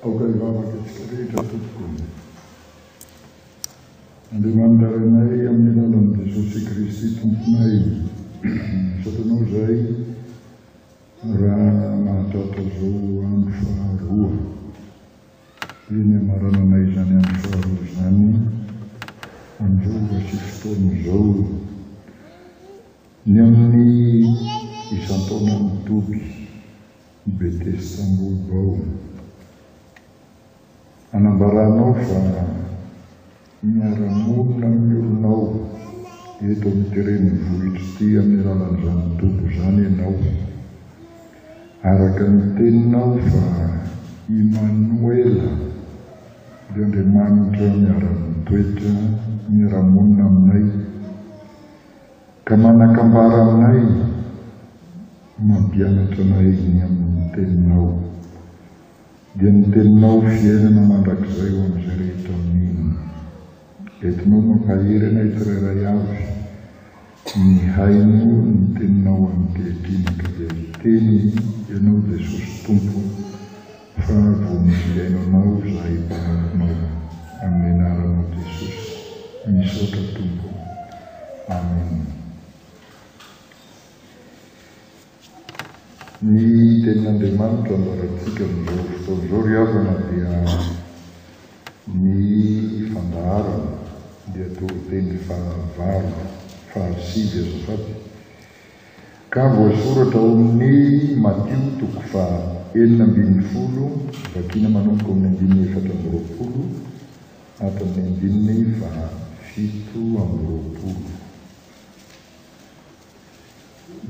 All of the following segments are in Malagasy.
Aoka hivavaka isika rehetra tompoko ô. Andriamanitra Rainay amin'ny alalan'i Jesosy Kristy Tomponay, misaotra Anao izahay raha mahatratra izao andro faharoa. Eny amarananay izany andro faharoa izany amin'izao ora sy fotoana izao. Ny amin'ny isan-taonan'ny toby i Betestamboho Baona. Anambaranao fa miara-monina amin'ny olonao eto amin'ity renivohitra ity amin'ny alalan'izany toby izany ianao. Araka ny teninao fa Imanoela dia Andriamanitra miara-mitoetra, miara-monina aminay. Ka manakambara aminay mampianatra anay ny amin'ny Teninao. Dia ny Teninao fiainana mandrakizay ho an'izay rehetra mino. Entinao mampahery anay tsirairay avy mihaino ny Teninao ankehitriny ka dia hiteny Ianao Jesosy Tompo. Fa vao misy ilaina anao izahay mpanara-maso amin'ny anaranao Jesosy. Misaotra Tompo. Amen. Ny tenin'Andriamanitra ambarantsika amin'izao fotoana izao ry havana dia ny fandaharana dia toriteny fahavalo, fahasivy azafady. Ka voasoratra ao amin'ny Matio toko faha enina ambin'ny folo, vakiana manomboka amin'ny andininy efatra amby roapolo hatramin'ny andininy faha fito amby roapolo.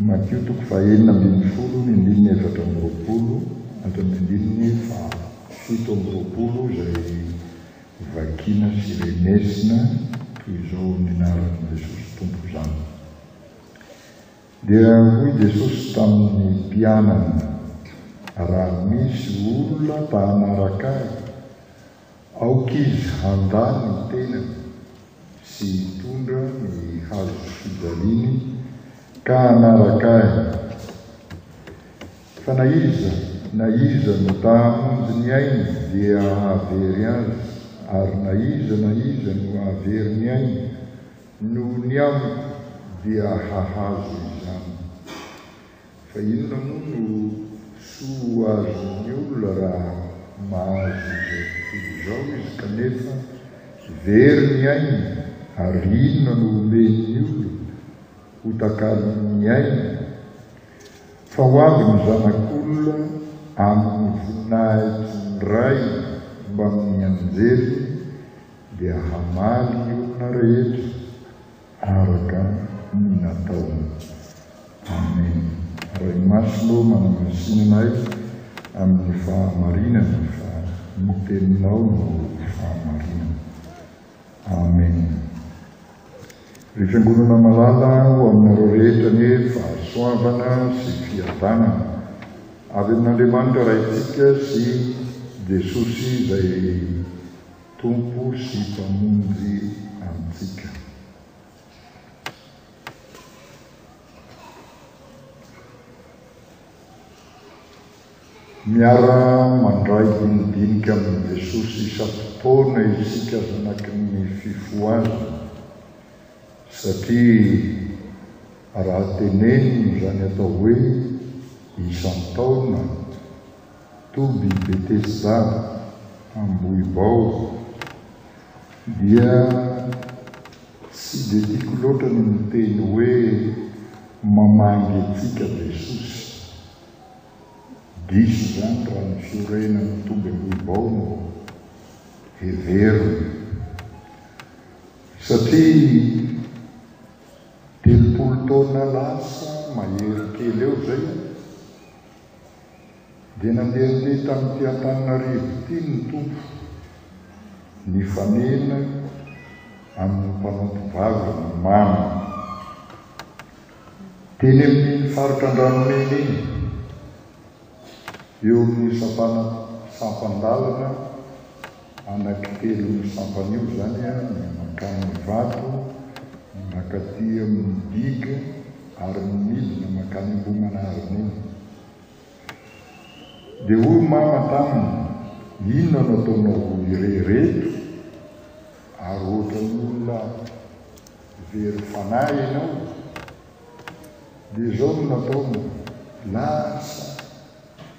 Matio toko faha enina ambin'ny folo, ny andininy efatra amby roapolo hatramin'ny andininy faha fito amby roapolo izay vakiana sy renesina toy izao amin'ny anaran'i Jesosy Tompo izany. Dia hoy Jesosy tamin'ny mpianany, Raha misy olona ta hanaraka Ahy, aoka izy handà ny tenany sy hitondra ny hazo fijaliany ka hanaraka Ahy. Fa na iza na iza no ta hamonjy ny ainy dia hahavery azy, ary na iza na iza no hahavery ny ainy, Noho ny amiko dia hahazo izany. Fa inona moa no soa azon'ny olona raha mahazo izao tontolo izao izy kanefa very ny ainy ary inona no omen'ny olona ho takalon'ny ainy? Fa ho avy ny zanak'olona amin'ny voninahitry ny Rainy mbamin'ny anjeliny dia hamaly ny olona rehetra araka ny nataony. Amen. Ray Masina ô manamasinina ahy amin'ny fahamarinana fa ny teninao no fahamarinana. Amen. Ry Fiangonana malala ho aminareo rehetra anie fahasoavana sy fiadanana avy amin'Andriamanitra Raintsika sy Jesosy izay Tompo sy Mpamonjy antsika. Miara mandray dinidinika amin'i Jesosy isam-potoana isika zanaky ny fifohazana, satria raha tenenina izany atao hoe isan-taona, Toby Betesda, Ambohibao, dia tsy dia tiako loatra ny miteny hoe mamangy antsika Jesosy. Diso izany raha ny fiorenan'i Toby Ambohibao no heverina. Satria telopolo taona lasa mahery kely eo izay, dia nandehandeha tamin'ity Antananarivo ity ny Tompo, nifanena amin'ny mpanompo vavy ny mama, teny amin'iny faritra Andranomena iny, eo amin'ny sampana, sampan-dalana, Anankitelon'io sampana io izany ny mankany Ivato, ny mankaty amin'ny digue ary ny midina mankany Ambohimanarina iny. Dia hoy i Mama taminy, Inona no ataonao roa irehireto? Ary ohatran'ny olona very fanahy ianao. Dia izao no nataony, lasa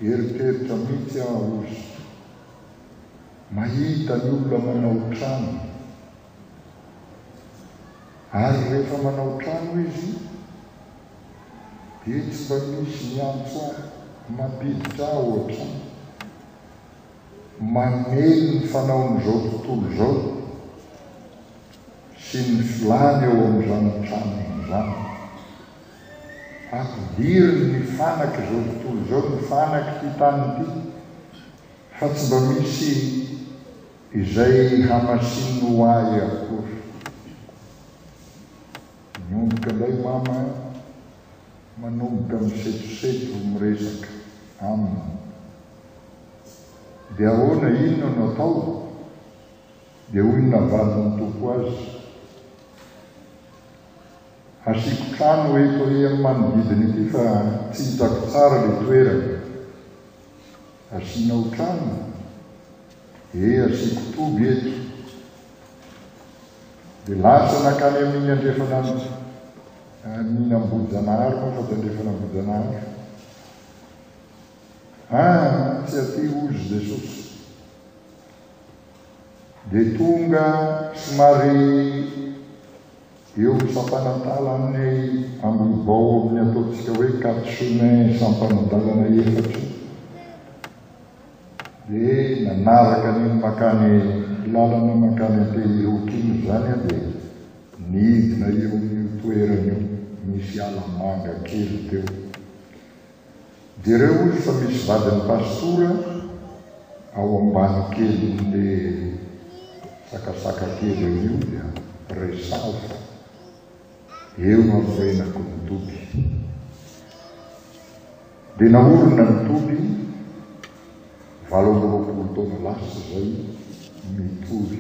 eritreritra mihitsy aho hozy. Mahita ny olona manao trano. Ary rehefa manao trano izy dia tsy mba misy miantso ahy, mampiditra ahy ao an-trano. Mamely ny fanaon'izao tontolo izao sy ny filàny ao amin'izany tranony izany. Ampidiriny ny fanaka izao tontolo izao, ny fanaka ity tany ity. Fa tsy mba misy izay hamasininy ho ahy akory. Miomboka indray Mama an! Manomboka misetoseto miresaka aminy. Dia ahoana, inona no atao? Dia hoy ny navalin'ny Tompo azy, Hasiako trano eto amin'ny manodidina ity fa tsy hitako tsara ilay toerana. Asianao trano? Ee asiako toby eto. Dia lasa nankany amin'iny andrefana amin'iny Ambohijanahary moa fa tsy andrefana Ambohijanahary. Ah, tsy aty hozy Jesosy. Dia tonga somary Eo misampanampala aminay ambiny vao ao amin'ny ataontsika hoe Katsune sampanadalana efatra io dia nanaraka an'iny makany lalana makany Antehiroky iny izany aho dia nidina eo amin'io toerana io misy ala manga kely teo Jereo ozy fa misy vadiny pastora ao ambany kelinle sakasaka kely eo io dia resaho fa eo no anorenako ny toby. Dia naorina ny toby valo amby roapolo taona lasa izay mitory.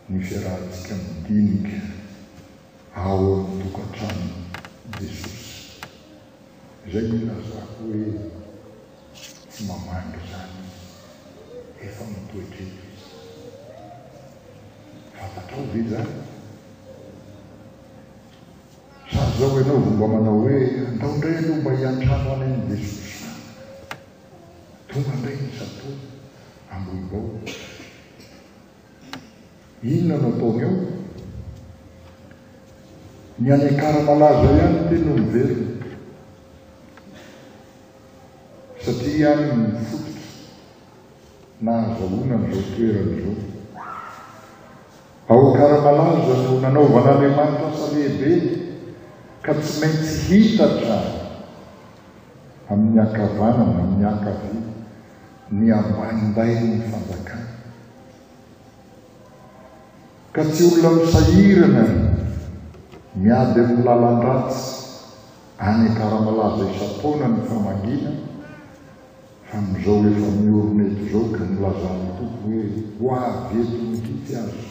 ny fiarahantsika madinika ao amin'ny tokantranon'i Jesosy. Izay no ilazako hoe tsy mamangy izany Izy. Efa mitoetra eto Izy. Fantatrao ve izany? Sa izao ianao vao mba manao hoe, Andao indray aloha mba hiantrano anay amin'i Jesosy any. Tonga indray ny Sato, Ambohibao. Inona no ataony eo? Ny any Ankara malaza ihany ny teny no miverina. Satria any no fototra nahazahoana an'izao toerana izao. Ao Ankara malaza no nanaovan'Andriamanitra asa lehibe ka tsy maintsy hita hatrany amin'ny ankavanana, amin'ny ankavia. ny ambanim-bainin'ny fanjakana, ka tsy olona misahirana ny miady amin'ny lalan-dratsy any Akaramalaza isan-taona ny famangiana, fa amin'izao efa miorina eto izao ka nilazan'ny Tompo hoe ho avy eto mihitsy aza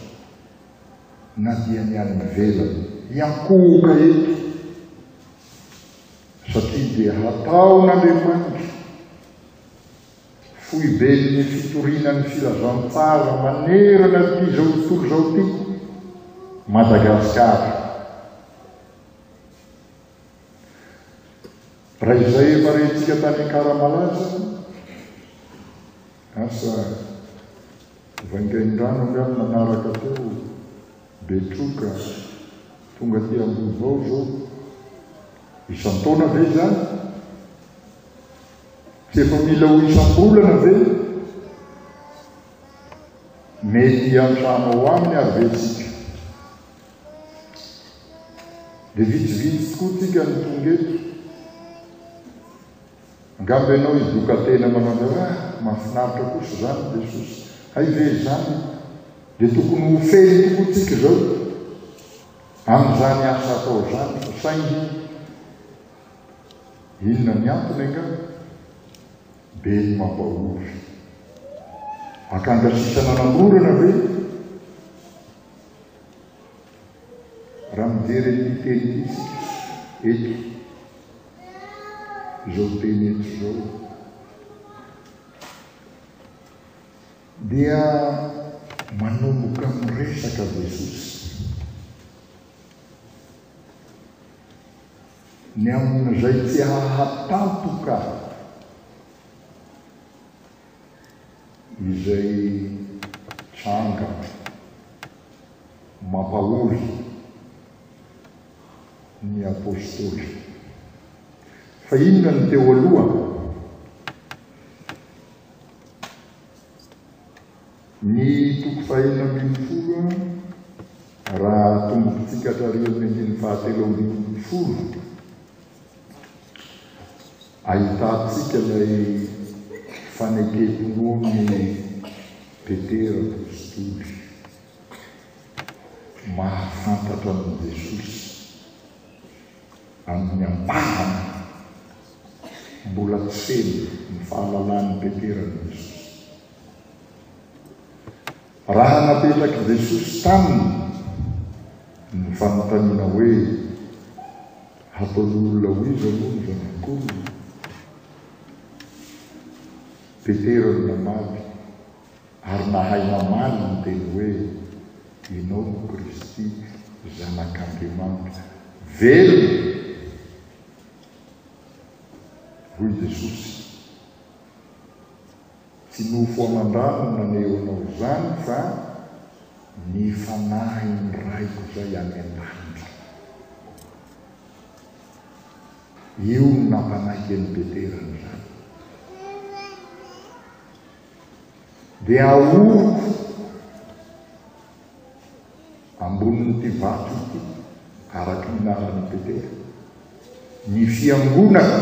na dia ny any ivelany hiankohoka eto, satria dia hataon'Andriamanitra Foiben'ny fitoriana ny filazantsara manerana ity izao tontolo izao ity, Madagasikara. Raha izay efa rehintsika tany Ankaramalaza, asa Vaingaindrano angano nanaraka teo, Betroka, tonga aty Ambohivao izao, isan-taona ve izany? Tsy efa mila ho isam-bolana ve? Mety hiantrano ao aminy ary ve isika? Dia vitsivitsy tokoa tsika no tonga eto. Angamba ianao hidoka-tena manao ny hoe, ah, mahafinaritra kosa izany Jesosy. Hay ve izany? Dia tokony ho feno tokoa tsika izao amin'izany asa atao izany, saingy Inona ny antony angaha? Be ny mampahory. Akanga sisa nanamorana ve? Raha mijery an'ity teny misy eto, izao teny eto izao, dia manomboka miresaka Jesosy. ny amin'izay tsy hahatampoka izay tranga mampahory ny apostoly. Fa inona ny teo aloha? Ny toko fahenina ambin'ny folo raha tombontsika hatramin'ny andininy fahatelo ambin'ny folo, ahitantsika ilay fanekem-pinoan'i Petera apositoly mahafantatra an'i Jesosy amin'ny ampahany. Mbola tsy feno ny fahalalan'i Petera an'i Jesosy. Raha napetrak'i Jesosy taminy ny fanontaniana hoe, Hataon'olona ho iza moa ny Zanak'olona? Petera no namaly, ary nahay namaly ny teny hoe, Ianao no Kristy, Zanak'Andriamanitra velona! Hoy Jesosy. Tsy nofo aman-drano no naneho anao izany fa ny Fanahin'ny Raiko izay any an-danitra. Io no nampanaiky an'i Petera an'izany. Dia ahoroko ambonin'ity vato ity, araka ny lalan'i Petera, ny fiangonako.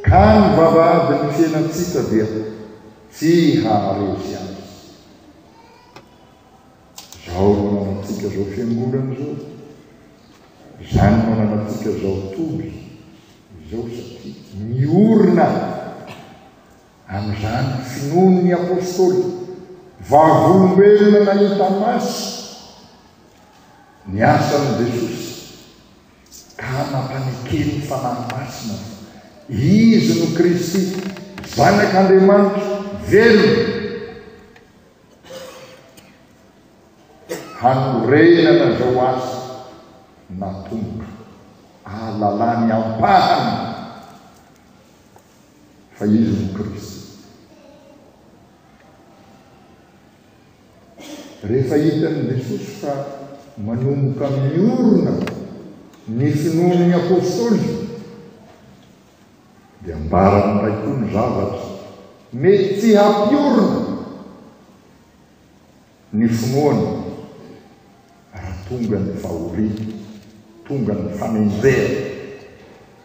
Ka ny vavahadin'ny fiainantsika dia tsy haharesy azy. Izao no ananantsika izao fiangonana izao, izany no ananantsika izao toby izao satria miorina amin'izany finoan'ny apôstôly vavolombelona nahita masy ny asan'i Jesosy. ka mampanekeny ny Fanahy Masina fa Izy no Kristy, Zanak'Andriamanitra velona, hanorenana izao asa natomboka, ahalalany ampahany fa Izy no Kristy. Rehefa hitan'i Jesosy fa manomboka miorina ny finoan'ny apostoly, dia ambarany indray koa ny zavatra mety tsy hampiorina ny finoana raha tonga ny fahoriana, tonga ny fanenjehana,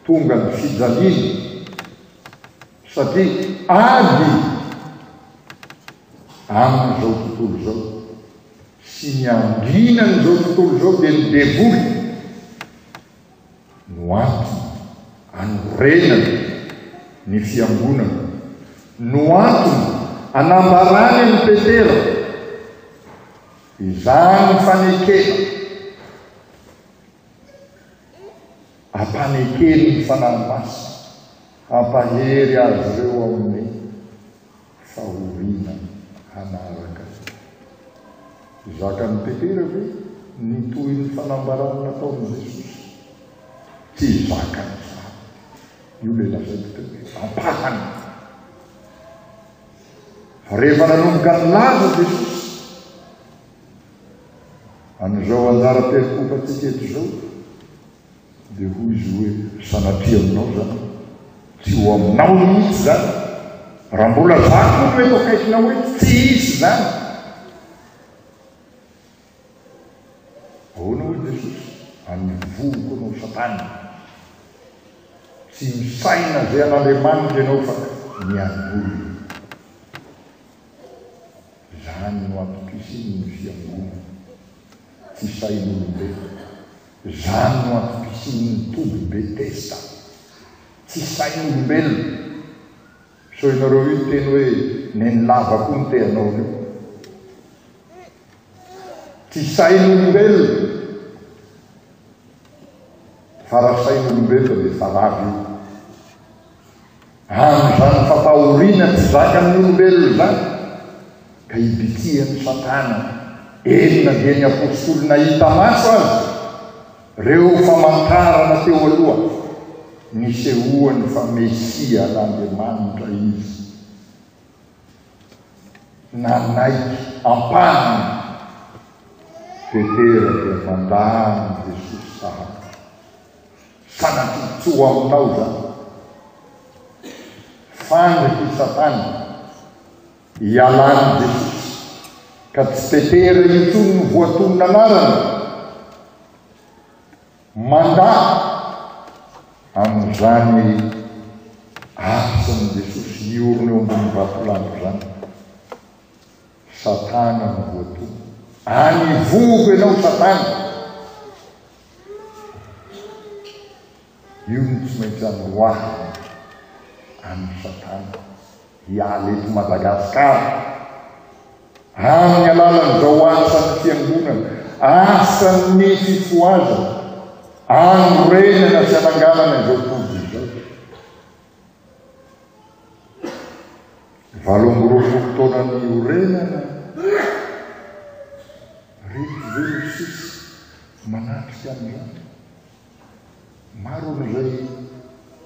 tonga ny fijaliana. Satria ady amin'izao tontolo izao sy ny andrinan'izao tontolo izao dia ny devoly no antony anorenany ny fiangonana, no antony anambarany an'i Petera izany fanekena ampanekeny ny Fanahy Masina. Hampahery azy ireo amin'ny fahoriana hanaraka. Zakan'i Petera ve ny tohin'ny fanambarana nataon'i Jesosy? Tsy zakany izany. Io ilay lazaiko teo hoe ampahany. Fa rehefa nanomboka nilaza Jesosy an'izao anjara-piaikompantsika eto izao, Dia hoy izy hoe, Sanatria aminao izany. Tsy ho aminao mihitsy izany. Raha mbola za koa no eto akaikinao eto, tsy hisy izany. Ahoana hoy i Jesosy? Amin'ny vohoko ianao Satana. Tsy misaina izay an'Andriamanitra ianao fa miangoly. Izany no antom-pisian' ny fiangonana. Tsy sahin'olombe. Izany no antom-pisian' ny toby be testa. Tsy sahin'olombelona. Sao ianareo io teny hoe neny lava koa no te hanao io. Tsy sahin'olombelona. Fa raha sahin'olombelona dia fa lava io. Amin' izany fampahoriana tsy zakan' ny olombelona izany ka ibitsihan' i Satana, eny na dia ny apostoly nahita maso aza ireo famantarana teo aloha nisehoany fa Mesia an' Andriamanitra izy. Nanaiky ampahany Petera dia mandà an' i Jesosy sahady. Fa na tombontsoa ho aminao izany. Faly hoy Satana, ialàn'i Jesosy, ka tsy tetera intsony ny voatonon'anarany. Mandà amin'izany asan'i Jesosy niorina eo ambonin'ny vatolampy izany. Satana no voatono. Any ivovo ianao Satana! Io no tsy maintsy amoroahana an'i Satana hiala eto Madagascar amin'ny alalan'izao asan'ny fiangonana, asan'ny fifohazana, anorenana sy ananganana izao toby izao. Valo amby roapolo taona niorenana ry ve no sisa manatrika an'izany? Maro amin'izay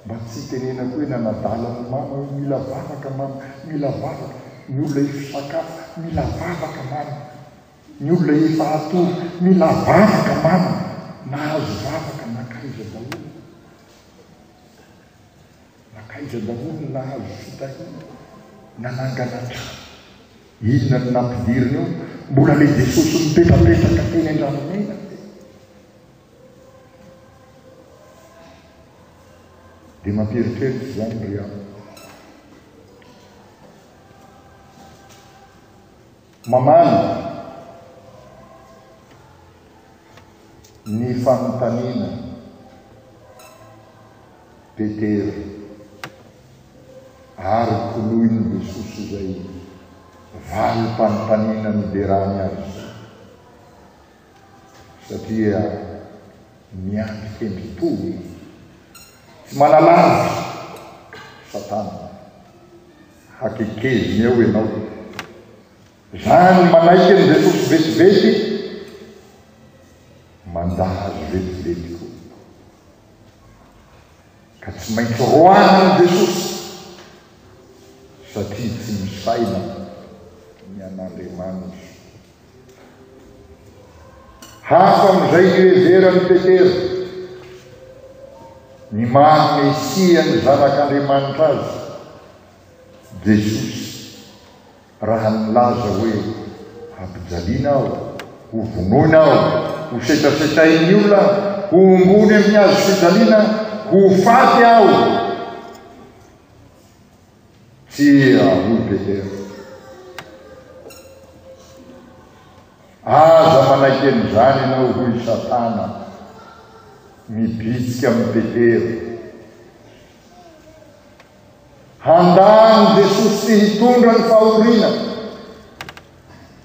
mba tsy hitenenako hoe nanadala an'i Mama hoe mila vavaka Mama, mila vavaka, ny olona efa sakafo, mila vavaka Mama, ny olona efa hatory, mila vavaka Mama, nahazo vavaka nankaiza daholo? Nankaiza daholo ny nahazo fitahiana? Nanangana trano? Inona no nampidiriny ao? Mbola le Jesosy mipetrapetraka teny Andranomena ve? Dia mampieritreritra izany ry aho. Mamany ny fanontaniana Petera ary koloin'i Jesosy izay valim-panontaniana niderany azy satria miandry hendry toa izy. Tsy manalavitra Satana. Hakekeziny eo ianao. Zany manaiky ny ressource vetivety manda azy vetivety koa. Ka tsy maintsy roahana ny ressource satria tsy misaina ny an'Andriamanitra. Hafa amin'izay iheveran'i Petera ny maha-Mesia ny Zanak'Andriamanitra azy, Jesosy, raha nilaza hoe, Hampijaliana aho, hovonoina aho, hosetrasetrain'ny olona aho, hohombony amin'ny hazofijaliana, ho faty aho. Tia an'i Betela. Aza manaiky an'izany ianao, hoy i Satana, mibitsika amin'i Petera. Handany Jesosy tsy hitondra ny fahoriana,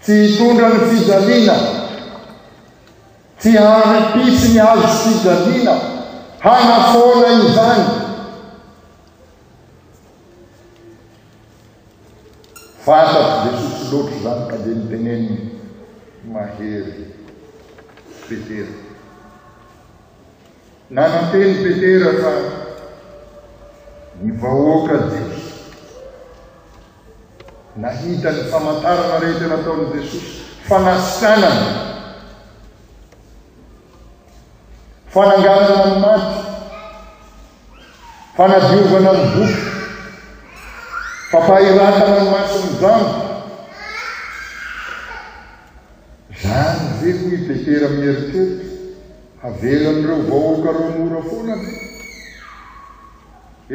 tsy hitondra ny fijaliana, tsy hanipitsy ny azo fijaliana, hanafoana izany. Fantatry Jesosy loatra izany ka dia niteneniny, Mahery Petera. Nananteny Petera fa ny vahoaka jiosy nahita ny famantarana rehetra nataon'i Jesosy, fanasitrànana, fananganana ny maty, Fanadiovana ny voky. Fampahiratana ny mason'ny rano. Zany ve hoy i Petera mieritreritra? Havelan'ireo vahoaka roa mora foana ve?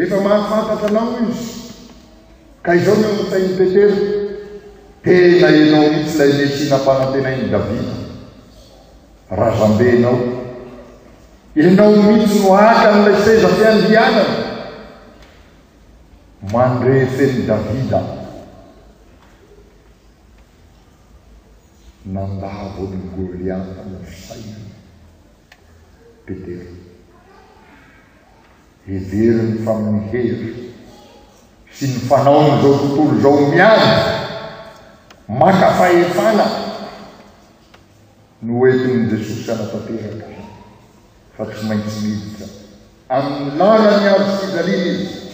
Efa mahafantatra anao izy. Ka izao ny ao an-tsain'i Petera, tena ianao mihitsy ilay Mesia nampanantenain'i Davida. Razambe ianao. Ianao mihitsy no haka an'ilay seza fiandrianana. Mandre fen'i Davida. Nandavo an'i Goliata ny sain'i Petera. Heveriny fa amin'ny hery sy ny fanaon'izao tontolo izao miady maka fahefana Noentin'i Jesosy hanatanteraka fa tsy maintsy miditra amin'ny lalan'ny hazo fijaliana izy.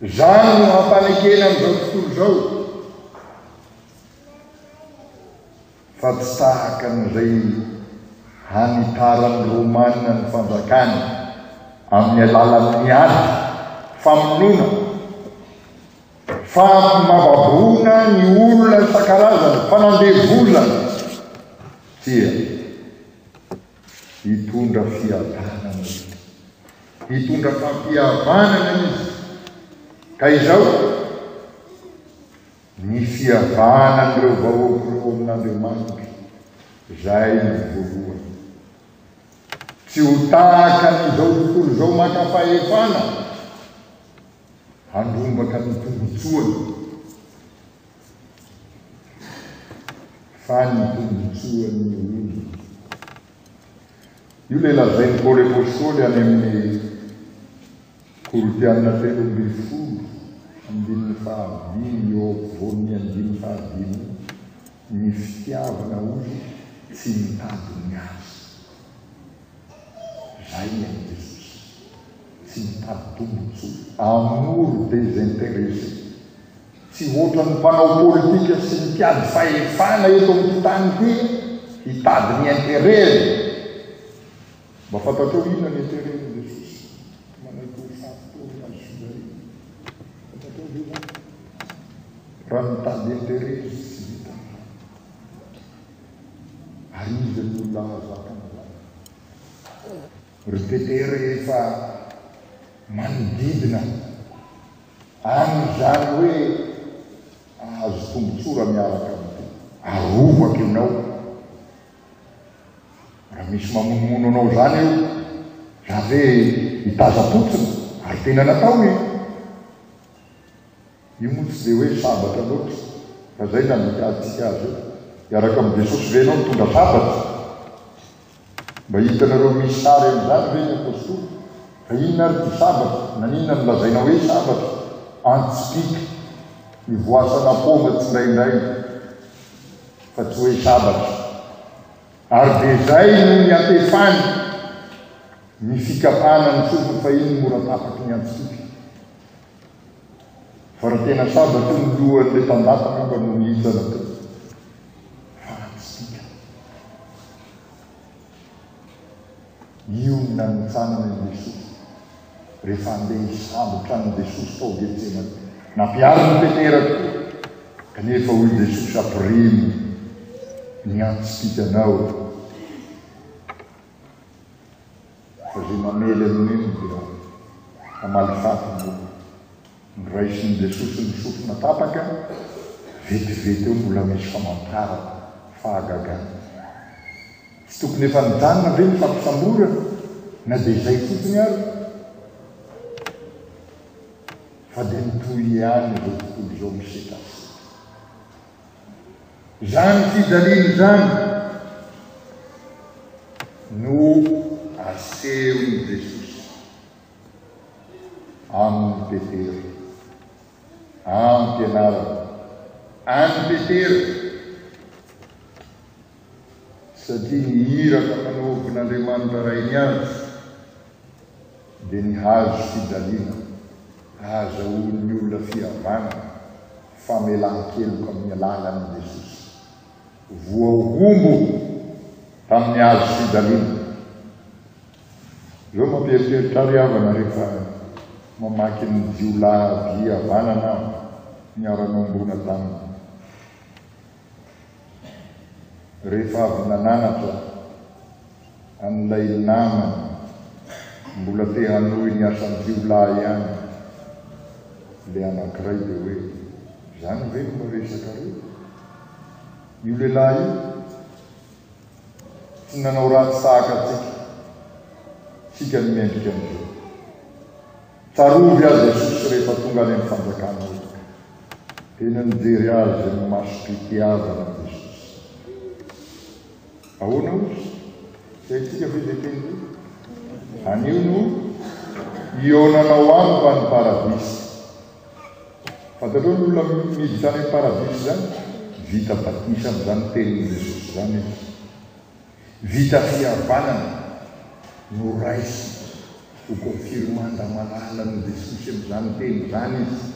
Izany no hampanekena amin'izao tontolo izao fa tsy tahaka an'izay hanitaran'ny Romana ny fanjakany amin'ny alalan'ny ady, famonoana, Fa mababoana ny olona isan-karazany, fa nandevo olona dia hitondra fiadanana izy, hitondra fampihavanana izy. Ka izao, ny fihavanan'ireo vahoaka ireo amin'Andriamanitra, izay ny voalohany. Tsy ho tahaka an'izao tontolo izao maka fahefana, handrombaka ny tombontsoany fa ny tombontsoan'ny olona. Io ilay lazain'i Paoly Apôstôly any amin'ny Korintiana telo ambin'ny folo, andininy fahadimy eo ampovoan'ny andininy fahadimy. Ny fitiavana hoy tsy mitady ny azy. Zay ny an'i Jesosy. Tsy mitady tombotsoa. Amour desinteresse. Tsy hoatran'ny mpanao politika sy mpiady fahefana eto amin'ity tany ity hitady ny interet-ny. Mba fantatrao inona ny ateren'i Jesosy manaiky ho faty teo amin'ny hazo fijaliana? Fantatrao ve izany? Raha mitady interet izy tsy vitany izany. Ary iza ny olona mahazaka an'izany? Ry Peter rehefa manodidina an'izany hoe ahazo tombotsoa raha miaraka amin'ity, arovako ianao Raha misy mamonomono anao izany eo, izany ve hitazam-potsiny? Ary tena natao io. Io moa tsy dia hoe sabatra loatra, fa izay no andikarintsika azy eo. Hiaraka amin'i Jesosy ve ianao mitondra sabatra? Mba hitanareo misy sary an'izany ve ny apostoly? Fa inona ary ity sabatra? Naninona no lazaina hoe sabatra? Antsipika, ivoasana paoma tsindraindray. fa tsy hoe sabatra, ary dia izay no niatefany ny fikapana ny sofiny fa iny mora tapaky ny antsitoka fa raha tena sabatra io ny lohan'ilay tandapa angamba no nihintsana teo fa antsitoka. Mionona amin'ny tsanana i Jesosy rehefa handeha hisambotra an'i Jesosy tao Getsemane. Nampiharin'i Petera tokoa, kanefa hoy Jesosy, Ampirimo ny antsipìkanao, fa izay mamely an'io dia hamaly faty ny olona. Noraisin'i Jesosy ny sofina tapaka, vetivety eo mbola misy famantarana, fahagagana. Tsy tokony efa nijanona ve ny fampisamborana na dia izay fotsiny ary? Fa dia mitohy ihany izao tontolo izao misetrasetra. Izany fijaliana izany no asehon'i Jesosy Any Petera. Any Pianarana. Any Petera. Satria ny iraka manohobin' Andriamanitra Ray ny azy, dia ny hazo fijaliana ahazahoan' ny olona fihavanana, famelan-keloka amin' ny alalan' i Jesosy. Voahombo tamin' ny hazo fijaliana Ireo mampieritreritra ary havana rehefa mamaky ny jiolahy havanana aho niara-niombona taminy. Rehefa avy nananatra an'ilay namany mbola te hanohy ny asan-jiolahy ihany ilay anankiray dia hoe, izany ve no miresakareo? Io lehilahy io? Tsy nanao ratsy sahaka antsika, isika no mendrika an'ireo. Tsarovy azy Jesosy rehefa tonga any amin'ny fanjakana efitra. Tena nijery azy amin'ny masom-pitiavana i Jesosy. Ahoana ozy? Tsy haintsika ve izay teny hoe, Anio no ionanao amiko any paradisa? Fantatrao ny olona miditra any am paradisa izany? Vita batisa am zany tenin Jesosy izany izy. Vita fihavanana, noraisiny, ho confirma nda malalan i Jesosy am zany teny izany izy.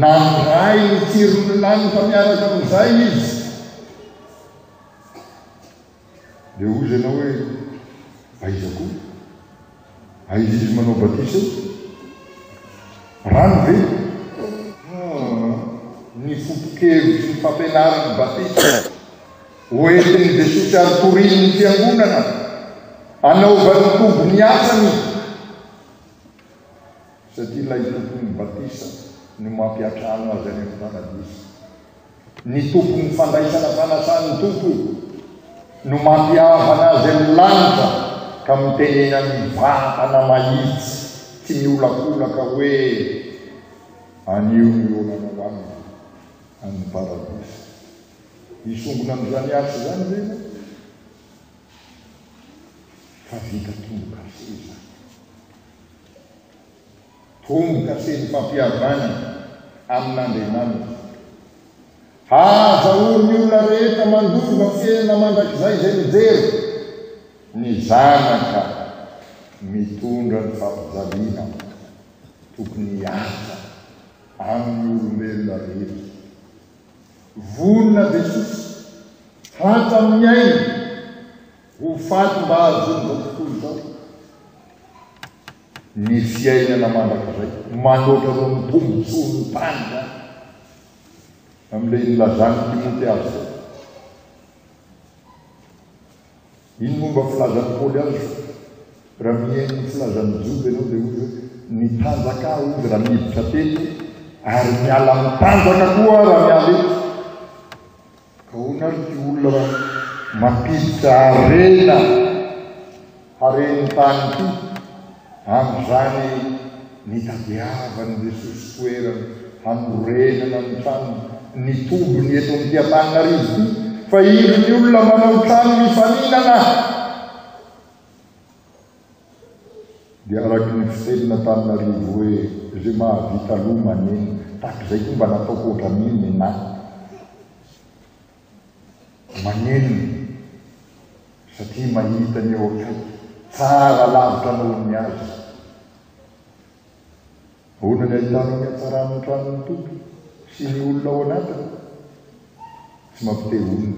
Nandray ny tsiron ny lanitra miaraka am izay izy. Dia hoy izy ianao hoe, Aiza koa? Aiza izy manao batisa io? Rano ve? Ah, ny foto-kevitry ny fampianaran'ny batisa hoentin'i Jesosy ary torian'ny fiangonana anaovan'ny Tompo ny asany satria ilay tompon'ny batisa no mampiantrano azy any amin'ny paradisa. Ny Tompon'ny fandraisana fanasan'ny Tompo no mampihavana azy amin'ny lanitra ka mitenenan'ny vatana mahitsy tsy miolakolaka hoe, Anio ny olanao amiko any Paradisa. Hisongona amin'izany asa izany ve ianao? Fa vita tombo-kase izany. Tomboka se ny fampihavanana amin'Andriamanitra. Hahazahoan'ny olona rehetra mandova fiainana mandrakizay izay mijery ny zanaka mitondra ny fampijaliana. Tokony hiasa amin'ny olombelona rehetra. Vonona Jesosy hatra amin'ny ainy ho faty mba hahazoan'izao tontolo izao. Ny fiainana mandrakizay, manoatra noho ny tombontsoan'ny tany izany, amin'ilay nilazan'i Timote azy izay. Iny momba filazan'i Paoly azy fa raha mihaino ny filazan'ny Joda ianao dia hoy hoe, Ny tanjaka aho hoy raha miditra teto, ary miala amin'ny tanjaka koa aho raha miala eto. Gaona ity olona mampiditra harena haren'ny tany ity amin'izany nitadiavany ny sosotoerana hanorenana ny tranony, ny tobiny eto amin'ity Antananarivo ity fa indro ny olona manao trano mifaninana. Dia araky ny fisainana taminarivo hoe ze mahavita aloha maneno tahaka izay koa mba nataoko ohatran'iny nenah maneno satria mahita ny eo akaiky tsara lavitra noho ny azy. Ahoana ny ahitanao ny hatsaran'ny tranon'ny Tompo sy ny olona ao anatiny? Tsy mampite honina.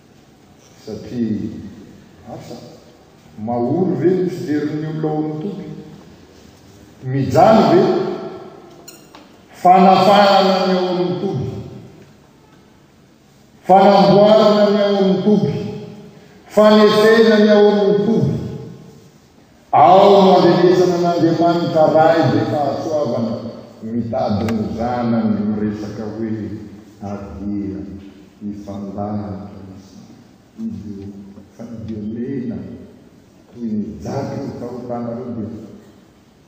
Satria asa? Mahory ve ny fijery ny olona ao amin'ny toby? Mijaly ve? Fanafahana ny ao amin'ny toby. Fanamboarana ny ao amin'ny toby. Fanefena ny ao amin'ny toby. Ao no andrenesana an'Andriamanitra Ray be fahasoavana mitady ny zanany miresaka hoe avia hifandahatra isika. Izy io fa ny Dio mena toy ny jaky ny fahotanareo dia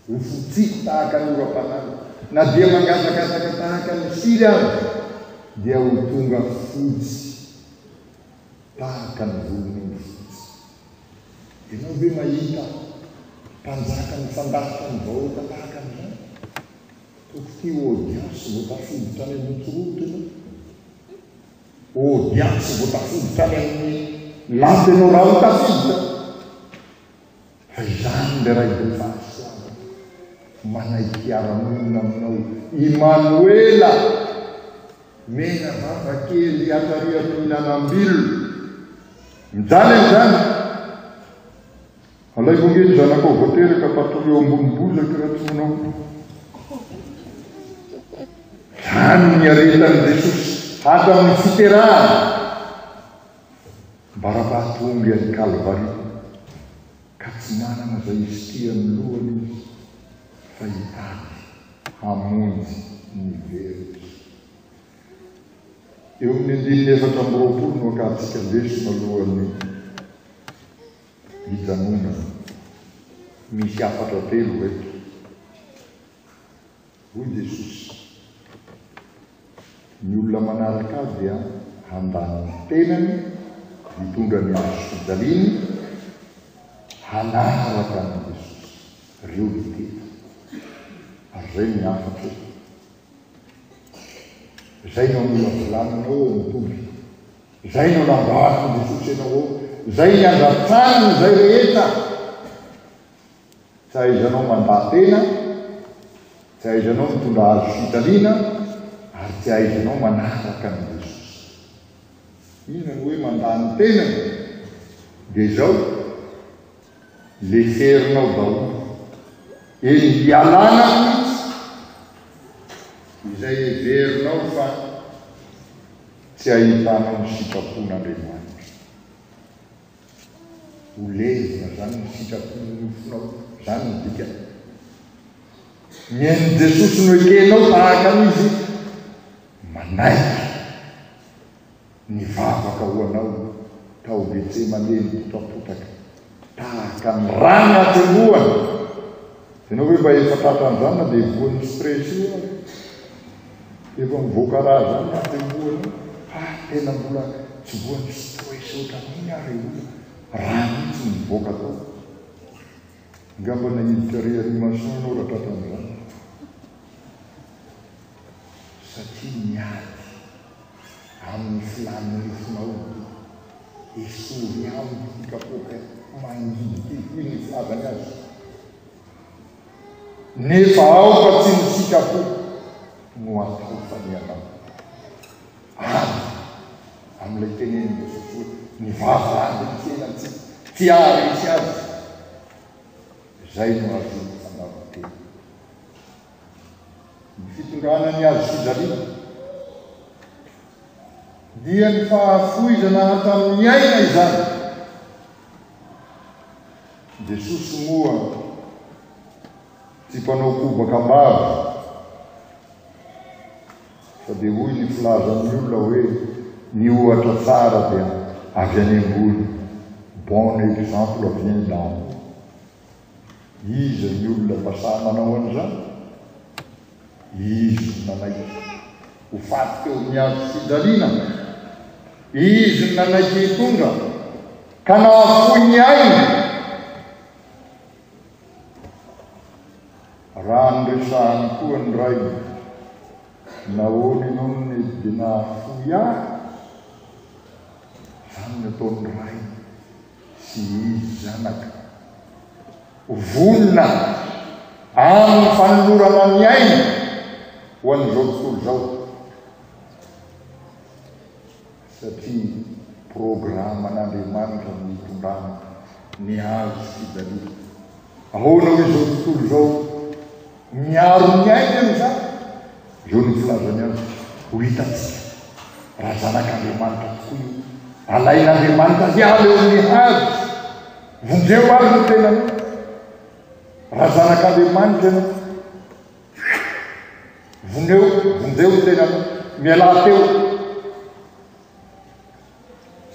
ho fotsiko tahaka ny oram-panala, na dia mangatakataka tahaka ny siry aza dia ho tonga fotsy tahaka ny volon'omby fotsy. Ianao ve mahita mpanjaka mifandafitra amin'ny vahoaka tahaka an'izany? Toko ty ho audience vao tafiditra any amin'ny autoroute ianao. Audience vao tafiditra any amin'ny lampe ianao raha ho tafiditra fa izany le Ray Boniface Tsiranana manaiky hiara-monina aminao i Manoela mena vava kely hiatrarian'ny mihinanam-bilona. Mijaly amin'izany! Alaivo ange ny zanakao vao teraka fa atory eo ambony bozaka raha tsy manao koa. Izany ny aretan'i Jesosy hatramin'ny fiterahana ambara-pahatonga any Kalvary ka tsy manana izay hizitia amin'ny lohany izy fa hitady hamonjy ny very. Eo amin'ny andininy efatra amby roapolo no akantsika lesona alohan'ny hijanonana. Misy hafatra telo eto, hoy Jesosy. Ny olona manaraka Ahy dia handany ny tenany, hitondra ny hazo fijaliany, hanaraka an'i Jesosy. Reo ny telo. Ary izay ny hafatra e. Zay no amolavolana ao amin'ny toby. Zay no lambasy ny fosy anao ao. Zay ny andratrana ny zay rehetra. Tsy ahaizanao mandà tena, tsy ahaizanao mitondra azo fitaliana, ary tsy ahaizanao manaraka ny Inona no hoe mandà ny tenany? Dia izao, Leferinao daholo. Eny ialana mihitsy izay heverinao fa tsy ahitanao ny sitrapon'Andriamanitra. Ho levona zany ny sitrapon'ny nofonao, zany ny dikany. Mihaino Jesosy no ekenao tahaka an'izy, manaiky. Nivavaka ho anao tao Getsemane ny potapotaka tahaka ny rano atsembohana. Ianao ve mba efa tratra an'izany na dia voan'ny stress io ary? Efa mivoaka rà izany ny atsembohana. Ha, tena mbola tsy voan'ny stress ohatran'iny ary io olona. Rà mihitsy no mivoaka tao. Angamba naiditra réanimation ianao raha tratra an'izany. Satria niady. amin'ny filàn'ny nofon-aomby. Esory amiko ity kapoaka mangina ity, hoy ny filazany azy. Nefa aoka tsy ny sikapoko no atao fa ny anao. Avy amin'ilay tenenin'i Jesosy hoe, Ny vava rano no fiainantsika, tsy haharesy azy izay no ahazoana fandavan-tena. Ny fitondrana an'i Al-Sizari dia ny fahafoizana hatramin'ny aina izany. Jesosy moa tsy mpanao kobaka ambava fa dia hoy ny filazan'ny olona hoe ny ohatra tsara dia avy any ambony. Bon exemple vient d'en haut. Iza ny olona mba sahy manao an'izany? Izy no nanaiky ho faty teo amin'ny hazo fijaliana. Izy no nanaiky hitondra ka nahafoy ny ainy. Raha noresahany koa ny rainy, nahoana ianao no nety dia nahafoy ahy? Izany no ataon'ny rainy sy ny zanaka. Vonona amin'ny fanolorana ny ainy ho an'izao tontolo izao satria programan'Andriamanitra ny hitondrana ny hazo sy dahlia. Ahoana hoy izao tontolo izao? Miaro ny ainy aloha izany, eo no filazany azy, ho hitantsika raha zanak'Andriamanitra tokoa io, alain'Andriamanitra hiala eo amin'ny hazo, vonjeo ary ny tenanao raha zanak'Andriamanitra ianao, voneo, vonjeo ny tenanao, mialà teo,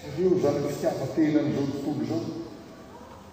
jereo izany fitiavan-tena an'izao tontolo izao.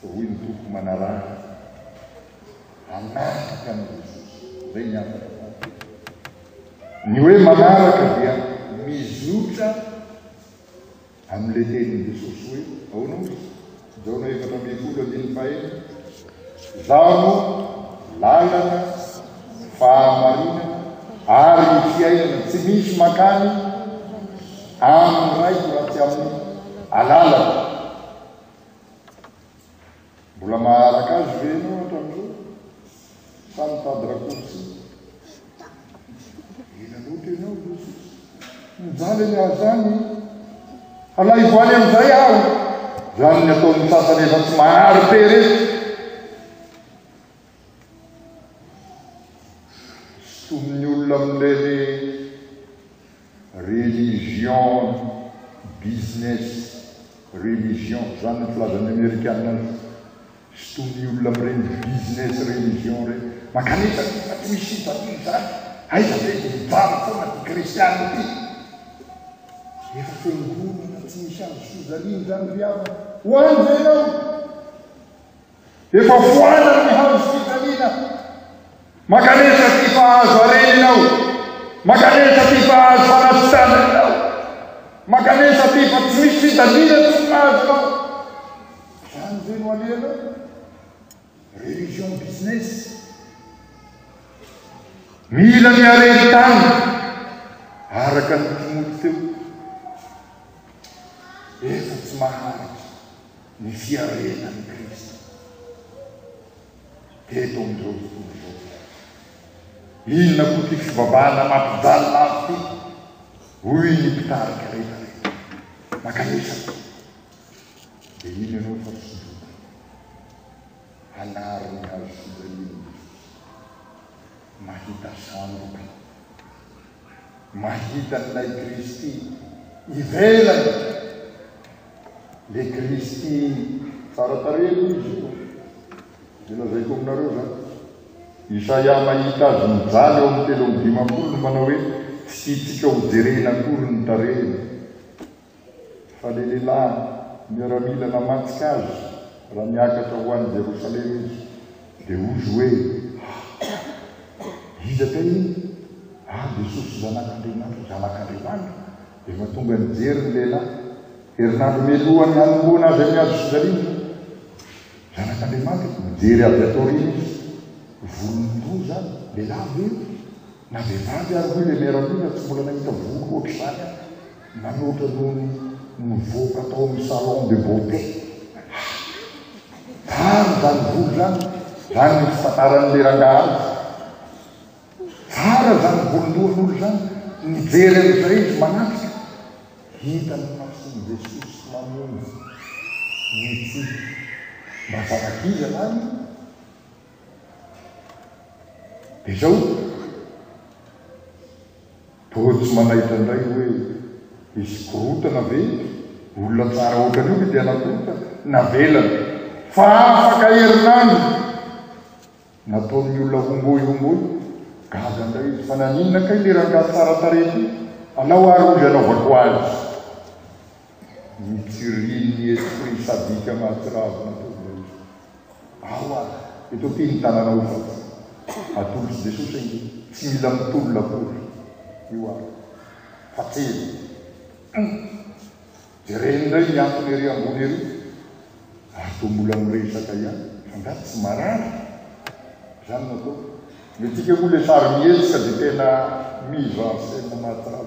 Fa hoy ny Tompo manaraka, Hanaraka an'i Jesosy. Izay ny antony fahatelo. Ny hoe manaraka dia mizotra amin'ilay tenin'i Jesosy hoe, ahoana moa izy? Jaona efatra ambin'ny folo andininy fahenina, Zaho, lalana, fahamarinana ary ny fiainana tsy misy makany amin'ny Raiko raha tsy amin'ny alalako. Mbola maharaka Azy ve ianao hatramin'izao sa mitady raccourci? Ela loatra ianao Rossy. Mijaly an'i Azany e. Alaivo any amin'izay aho. Izany ny ataon'ny sasany efa tsy mahary peresy. Somonin'ny olona amin'ireny Religion business religion zany ny filaza ny amerikana azy sy tony olona mireny business religion ireny mankanesa ty fa tsy misy sivatsy zany aiza ve de mijaly foana ty kristiana ty efa fiangonana tsy misy azo sozaliana zany ry havana ho any ve ianao Efa foanany ny hazo fijaliana. Mankanesa ty fa azo areninao. Mankanesa ty fa azo fanasitranana ianao. Mankanesa ty fa tsy misy fijaliana tsy ho mahazo anao. Izany ve no alehanao? Religion business. Mila ny hareny tany araka ny Timothy teo. Efa tsy maharitra. Ny fiarenan'i Kristy teto amin'izao tontolo izao dia aiza? Inona koa ity fivavahana mampijalina azy ity? Hoy ny mpitarika rehetra rehetra, Makanisa aloha, dia mino ianao fa tsy Joda aho. Hanary ny hazo fijalian'i Jesosy. Mahita sandoka. mahita an'ilay Kristy ivelany le Kristy tsara tarehy aloha izy io de lazaiko aminareo zany Isaia mahita azy mijaly ao amin'ny telo amby dimampolo no manao hoe tsy tiantsika ho jerena akory ny tarehiny fa le lehilahy miaramila namatsy kazo raha miakatra ho any Jerosalema izy dia hozy hoe ah iza kay iny ah Jesosy zanak'Andriamanitra zanak'Andriamanitra dia mahatonga nijery ny lehilahy herinandro mialoha ny hanomboana azy amin'ny hazo fijaliana zanak'Andriamanitra mijery avy ato aoriana izy volon-doza lehilahy ve na vehivavy ary hoy le miaramila tsy mbola nahita volo ohatr'izany aho Manoatra no nivoaka tao amin'ny salon de beauté. Tsara izany volo izany, izany no fitantaran'ilay rangahy azy. Tsara izany volon-dohan'olo izany, nijery an'izay izy manatrika, hita ny mason'i Jesosy mamonjy, nitsiky. Mba zanak'iza lany io? Izao toa tsy manaitra indray hoe hisy korotana ve? Olona tsara ohatran'io ve dia nakorotana? Navelany fa afaka herinandro nataon'ny olona homboy homboy. Gaga indray izy fa naninona kay le rangahy tsara tarehy ty? Alao ary hozy anaovako azy. Nijirian'ny esprit sadique mahatsiravina an'ireo rehetra. Ao ary, eto ty ny tananao fa tsy. Atolotry Jesosy ange, tsy mila mitolona akory. Io ary. Fa tena. Humm. Jereny indray ny antony ery ambony ery. Ary toa mbola miresaka ihany, angaha tsy marary? Izany no ataoko. Ny tiako moa ilay sary mihetsika dia tena mise en scène mahatsara.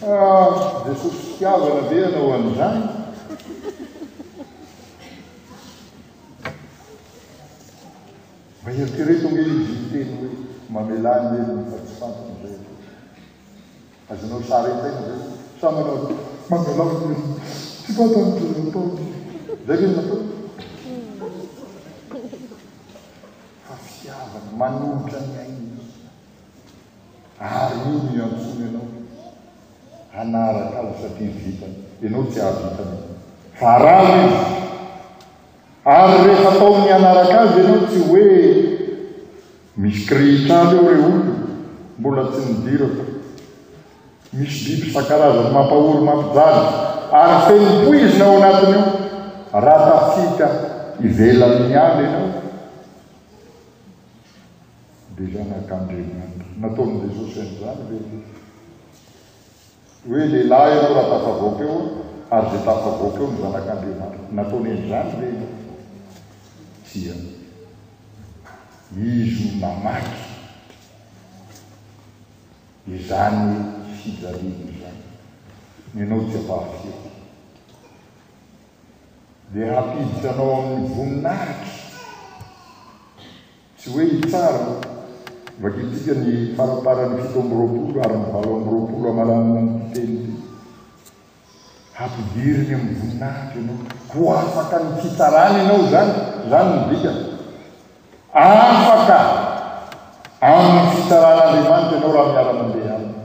Ah, Jesosy fitiavana ve ianao an'izany? Mba eritrereto ange izy niteny hoe, mamelà ny helony fa tsy fantany izay atao. Azonao sary an-tsaina ve? Sa manao mamelà ny olona? Tsy fantan'izay ataony. Izay ve no natao? Fa fitiavana manolotra ny ainy ihany. Ary io no iantsoany anao hanaraka azy satria vitany. Ianao tsy hahavita an'io. Fa araho izy. Ary rehefa ataony mianaraka azy ianao tsy hoe misy kirihitra any eo re olona mbola tsy nidirako. Misy biby isan-karazany mampahory mampijaly ary feno poizina ao anatiny ao. Raha tafita ivelany ihany ianao dia zanak'Andriamanitra. Nataon'i Jesosy an'izany ve ianao? Hoe lehilahy ianao raha tafavoaka eo ary dia tafavoaka eo ny zanak'Andriamanitra. Nataony an'izany ve ianao? Tsia. Izy no namaky izany fijaliana izany. Ianao tsy ampahafiloha. Dia hampiditra anao amin'ny voninahitra. Tsy hoe hitsara. Vakintsika ny faramparan'ny fito amby roapolo ary ny valo amby roapolo hamaranana an'ity teny ity. Hampidiriny amin'ny voninahitra ianao. Ho afaka amin'ny fitsarana ianao izany. Izany no dikany. Afaka amin'ny fitsaran'Andriamanitra ianao raha miara-mandeha Aminy.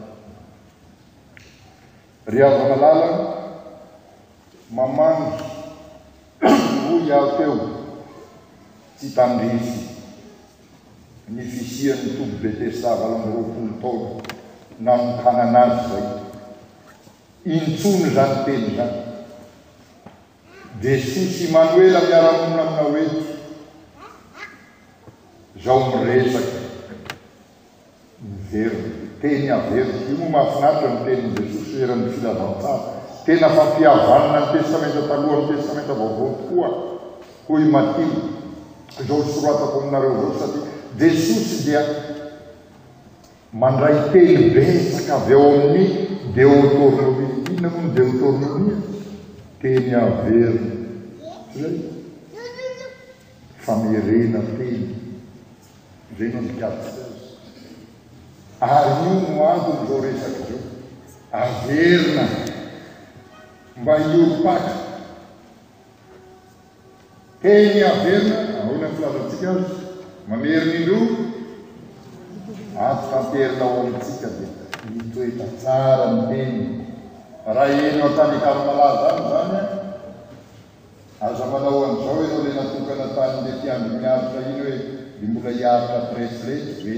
Ry havana lalana, mamangy, hoy aho teo, tsy tandrify ny fisian'ny toby Betesda valo amby roapolo taona nanokanana azy izay intsony izany teny izany. Dia soa sy Manoela miara-monina aminao eto zao miresaka, miverina, teny averiko, io moa mahafinaritra ny tenin'i Jesosy eran'ny filazantsara, tena fampihavanana ny Testamenta Taloha amin'ny Testamenta Vaovao tokoa hoy Matio zao soratako aminareo zao satria Jesosy dia Mandray teny betsaka avy ao amin'ny Deotornomia. Inona moa ny Deotornomia? Teny averina. Tsy izay? Famerena teny. Izay no andikavitsy azy. Ary io no anton'izao resaka izao. Averina mba hiorim-paka. Teny averina, ahoana ny filazantsika azy? Mamerimindrona ato tanterina ao amintsika dia mitoetra tsara ny teny. Raha eny ao an-tanin-karim-palaza any izany an, aza manao an'izao ianao ilay natokana tanin'ilay mpiandry ny aritra iny hoe dia mbola hiaritra bracelet ve?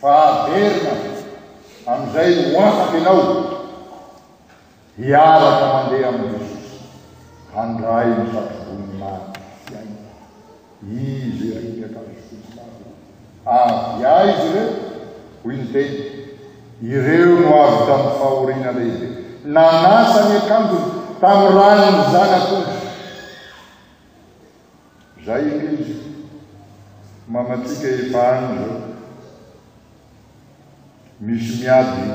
Fa averina, amin'izay ho afaka ianao. Hiaraka mandeha amin'i Jesosy, handray ny satroboninahitra sy aina. Iza ireo ny akanjo fotsy lava? Avy aiza ireo? Hoy ny Teny, Ireo no avy tamin'ny fahoriana lehibe. Nanasa ny akanjony tamin'ny ran'ny Zanak'ondry. Zay ilay izy mamatsika efa any zao misy miady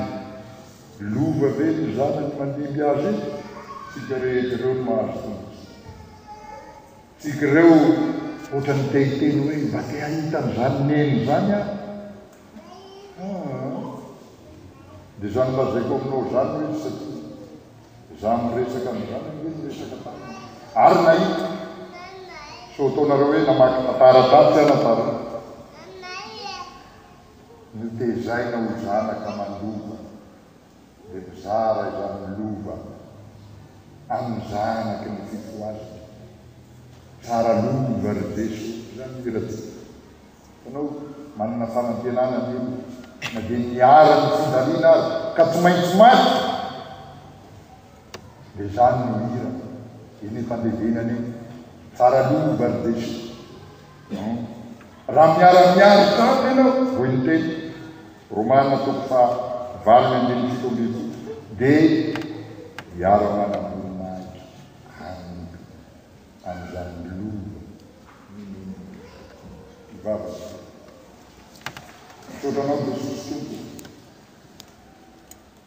lova be ny zanany mandimby azy io tsika rehetra reo no mahazo tombotsoa tsika reo otrany te hiteny hoe mba te hahita an'zany neny zany aho haa de zany lazaiko aminao zany mihitsy satria Za miresaka an'izany ange niresaka taminy ary nahita. Sao ataonareo hoe namaky tantara tatsy aho nampari. Notezaina ho zanaka mandova dia mizara izany lova amin'ny zanaky ny fifohazana. Tsara lova ry Jesoa izany hira ty. Ianao manana fanantenana anie na dia niharan'ny fijaliana aza ka tsy maintsy maty dia izany no hira eny efa andevenana eny tsara lova ry Jeso hum raha miara miaro tamiko ianao hoy ny teny Romana toko faha valo ny andininy fito ambin'ny folo dia hiara manam-boninahitra amiko. an'izany lova minono mpivavaka izany. Misaotra Anao Jesosy Tompo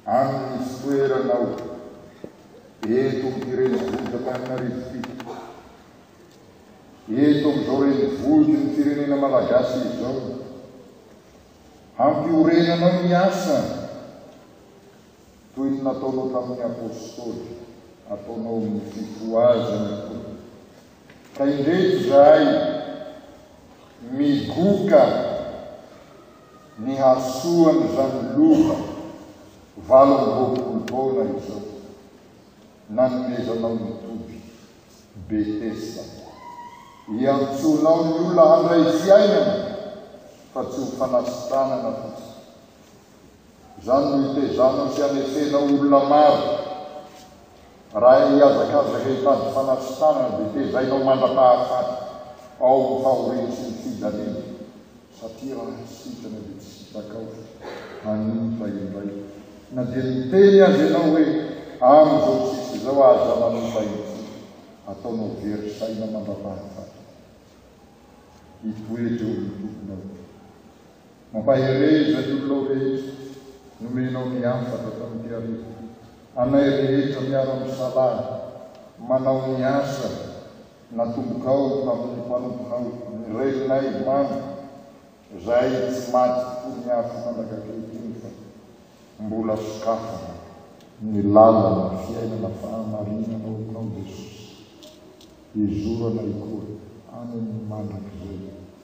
amin'ny fitoeranao eto amin'ity renivohitr'Antananarivo ity, eto amin'izao renivohitry ny firenena Malagasy izao. Hampiorenanao ny asa. Toy ny nataonao tamin'ny Apostoly, ataonao amin'ny fifohazana koa. Ka indreto izahay migoka ny hasoan'izany lova valo amby roapolo taona izao nanomezanao ny toby, Betesda. Iantsoanao ny olona handray fiainana fa tsy ho fanasitranana fotsiny. Izany no hitezanao sy hanefenao olona maro. Raha hihazakazaka hitady fanasitranana dia tezainao mandra-pahafaty ao ny fahoriany sy ny fijaliany satria raha sitrana dia tsy sitakao hanimpa indray na dia miteny aza ianao hoe amin'izao tsisy izao aza manompa ity ataonao very saina mandra-pahafaty. Hitoetra eo amin'ny tokonao. Mampahere izay olonao rehetra nomenao ny asa tato amin'ity hariva. Anay rehetra miara-misalahy manao ny asa natombokao tamin'ny mpanomponao ny Reninay Mamy izay tsy maty fony afo mandrak'ankehitriny fa mbola sokafana ny lalana fiainana fahamarinana ao aminao Jesosy. Hizorana ikoa any amin'ny mandrakizay.